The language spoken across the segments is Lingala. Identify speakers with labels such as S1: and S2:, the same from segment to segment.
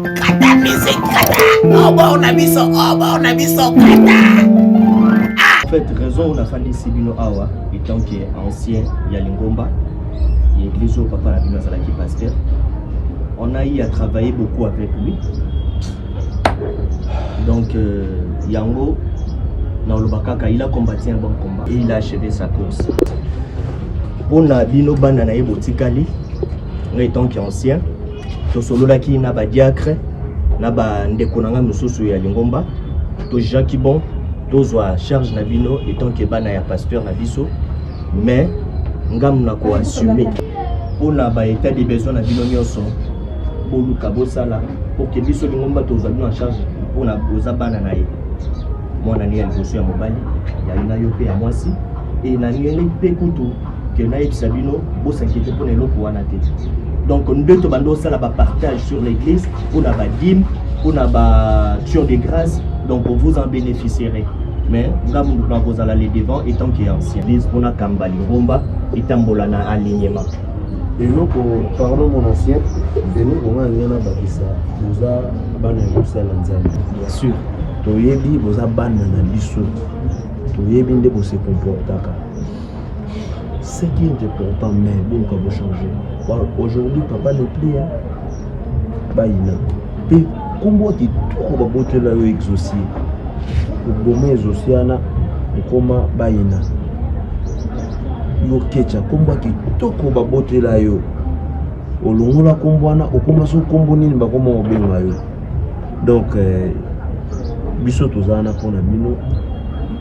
S1: Kata musique, kata. Obo oh, na biso, obo oh, na biso,
S2: kata. Ah. En fait, raison on a fallu Sibino Awa, étant que ancien ya Lingomba, et église au papa la bino azalaki pasteur. On a eu à travailler beaucoup avec lui. Donc, euh, Yango, dans le Bakaka, il a combattu un bon combat et il a achevé sa course. Pour Nabino Bananaï Botikali, étant qu'ancien, tosololaki na badiacre na bandeko na ngai mosusu ya lingomba tojaki bon tozwa charge na bino etant ke bana ya pasteur na biso mais ngambo na koassume mpo na baetat de besoin na bino nyonso boluka bosala porke biso lingomba tozwa bino en charge mpo na boza bana na ye mwana ne ya liboso ya mobali yali na yo mpe ya mwasi e na ngeli mpe kutu que nayebisa bino bosakete mpo na eloko wana te donc nde tobanda osala bapartage sur l'église mpo na badime mpo na baction de grâce donc vous en bénéficierez mais nga mundu nakozala le devant etant que ancien église mpo nakamba lingomba etambola na alignement eloko
S3: pardon mon ancien eloko nga alinga nabakisa boza bana ya kosala nzambe bien
S2: sûr toyebi boza
S3: bana na biso toyebi nde bosekomportaka ce qui est important mais boluka bochange aujourd'hui papa ne plus bayina mpe nkombo ya kitoko babotela yo exosie oboma exosie wana okoma bayina yo kecha nkombo ya kitoko babotela yo olongola nkombo wana okoma so nkombo nini bakoma kobenga yo donc eh, biso tozala na mpo na bino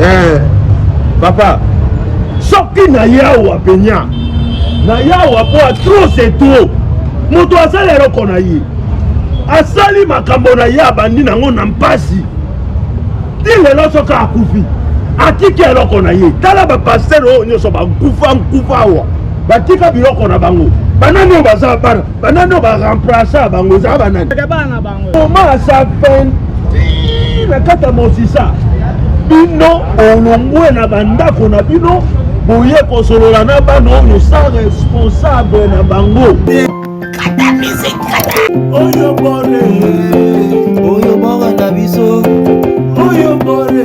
S2: eh,
S1: papa soki na yawa penya na yawa mpo ya trop c'est trop moto asala eloko na ye asali makambo na ye abandi nango na mpasi ti lelo soki akufi atiki eloko na ye tala bapastere oyo nyonso bakufa nkufa awa batika biloko na bango banani oyo baza bana banani ba remplaça bango eza banani koma asa
S4: 20
S1: na kati ya mosisa bino
S3: olongwe na bandako na bino boye kosolola na bana oyo sans responsable na bango oyo bore
S1: oyo bore na biso oyo bore